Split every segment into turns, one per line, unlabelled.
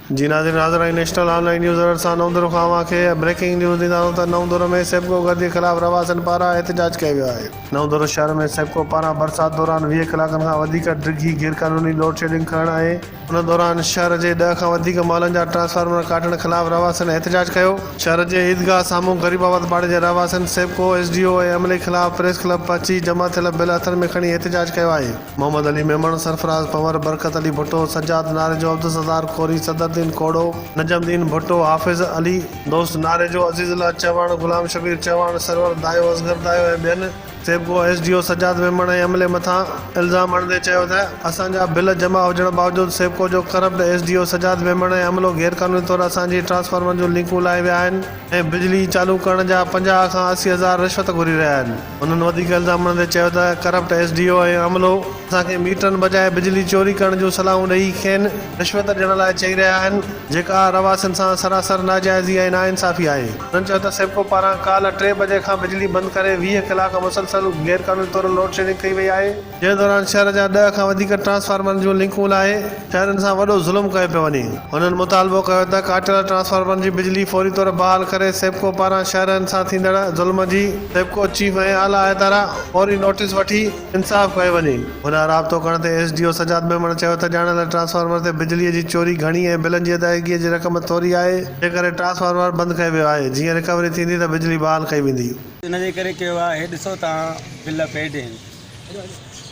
جي ناظرين حاضر آهن national online news alert سان نئون دورو کان اوهان کي بريڪنگ نيوز ڏيندا آهيون ته نئون دورو ۾ سيپڪو گهر جي خلاف رهواسين پاران احتجاج ڪيو ويو آهي. نئون دورو شهر ۾ سيپڪو پاران برسات دوران ويهه ڪلاڪن کان وڌيڪ ڊگهي غير قانوني لوڊ شيڊنگ ڪرڻ ۽. ان دوران شهر جي ڏهه کان وڌيڪ محلن جا ٽرانسفارمر ڪاٽڻ خلاف رهواسين احتجاج ڪيو. شهر جي عيدگاهه سامهون غريب آباد پاڙي جي رهواسين سيپڪو، ايس ڊي او ۽ عملي خلاف پريس ڪلب پهچي جمع ٿيل بل هٿن ۾ کڻي احتجاج ڪيو آهي. محمد علي ميمڻ، سرفراز پنور، برڪت علي ڀٽو، سجاد ناريجو، عبدالستار کوري، صدرالدين کوڙو، نجم الدين ڀٽو، حافظ علي، دوست ناريجو، عزيز الله چوهاڻ، غلام شبير چوهاڻ، سرور دايو، اصغر دايو ۽ ٻين SEPCO S D O Sajjad Memon ۽ عملي مٿان الزام هڻندي چيو ته اسان جا بل جمع هجڻ باوجود سيپڪو جو corrupt S D O Sajjad Memon ۽ عملو غيرقانوني طور اسان جي ٽرانسفارمرن جون لنڪون لاهي ويا آهن ۽ بجلي چالو ڪرڻ جا پنجاهه کان اسي هزار رشوت گهري رهيا آهن. هنن وڌيڪ الزام هڻندي چيو ته ڪرپٽ ايس ڊي او ۽ عملو اسان کي ميٽرن بجاء بجلي چوري ڪرڻ جون صلاحون ڏئي کين رشوت ڏيڻ لاء چئي رهيا آهن جيڪا رهواسين سان سراسر ناجائزي ۽ ناانصافي آهي هنن چيو ته سيپڪو پاران ڪالهه ٽي بجي کان بجلي بند ڪري ويهه ڪلاڪ مسلسل غيرقانوني طور لوڊشيڊنگ ڪئي وئي آهي. جنهن دوران شهر جا ڏهه کان وڌيڪ ٽرانسفارمرن جون لنڪون لاهي شهرين سان وڏو ظلم ڪيو پيو وڃي. هنن مطالبو ڪيو ته ڪاٽيل ٽرانسفارمرن جي بجلي فوري طور بحال ڪري سيپڪو پاران شهرين سان ٿيندڙ ظلم جي سيپڪو چيف ۽ اعليٰ عهدارا فوري نوٽيس وٺي انصاف ڪيو وڃي. هن رابطو ڪرڻ تي S D O Sajjad Memon چيو ته ڄاڻايل ٽرانسفارمر تي بجلي جي چوري گهڻي ۽ بلن جي ادائگي جي رقم ٿوري آهي جنهن ڪري ٽرانسفارمر بند ڪيو ويو آهي جيئن رڪوري ٿيندي ته بجلي بحال ڪئي ويندي. ان جي ڪري ڪيو
آهي ڏسو تان بل پيڊ هين.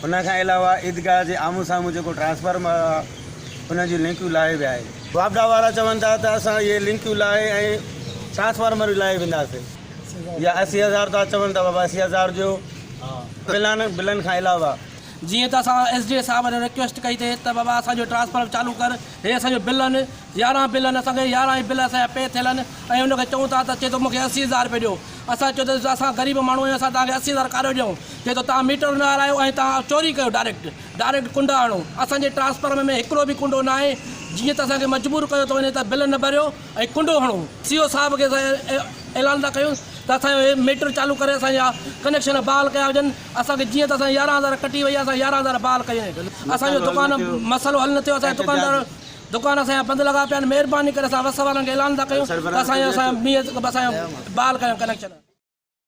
ان کان علاوه عيدگاهه جي آمهون سامهون جيڪو ٽرانسفارمر آهي ان جون لنڪيون لاهي ويا آهن. واپڊا وارا چون ٿا ته اسان اهي لنڪيون لاهي ۽ ٽرانسفارمر به لاهي وينداسين يا اسي هزار ٿا چون ته بابا اسي هزار ڏيو بلن بلن کان علاوه. جيئن ته اسان
ايس ڊي اي صاحب کي رڪويسٽ ڪئي ته بابا اسان جو ٽرانسفارمر چالو ڪر هي اسان جو بلن يارهن بل آهن، اسان کي يارهن ئي بل اسان جا پي ٿيل آهن ۽ ان کي چئون ٿا ته چئي ٿو مون کي اسي هزار رپيا ڏيو، اسان چيو ته اسان غريب ماڻهو آهيون اسان توهان کي اسي هزار ڪاڏو ڏيون، چئي ٿو توهان ميٽر نه هارايو ۽ توهان چوري ڪيو ڊائريڪٽ، ڊائريڪٽ ڪنڊا هڻو، اسان جي ٽرانسفارمر ۾ هڪڙو به ڪنڊو نه آهي، جيئن ته اسان کي مجبور ڪيو ٿو وڃي ته بل نه ڀريو ۽ ڪنڊو هڻو، سي او صاحب کي اسان اعلان ٿا ڪيون ته اسان جو هي ميٽر چالو ڪري اسان جا ڪنيڪشن بحال ڪيا وڃن، اسان کي جيئن ته اسان جي يارهن هزار ڪٽي وئي آهي، اسان جا يارهن هزار بحال ڪيون، اسان جو دڪان مسئلو حل نه ٿيو، اسان جا دڪاندار دڪان اسان جا بند لڳا پيا آهن مهرباني ڪري اسان وس وارن کي اعلان ٿا ڪيون ته اسان جو اسان جو مينهن اسان جو بحال ڪريو ڪنيڪشن.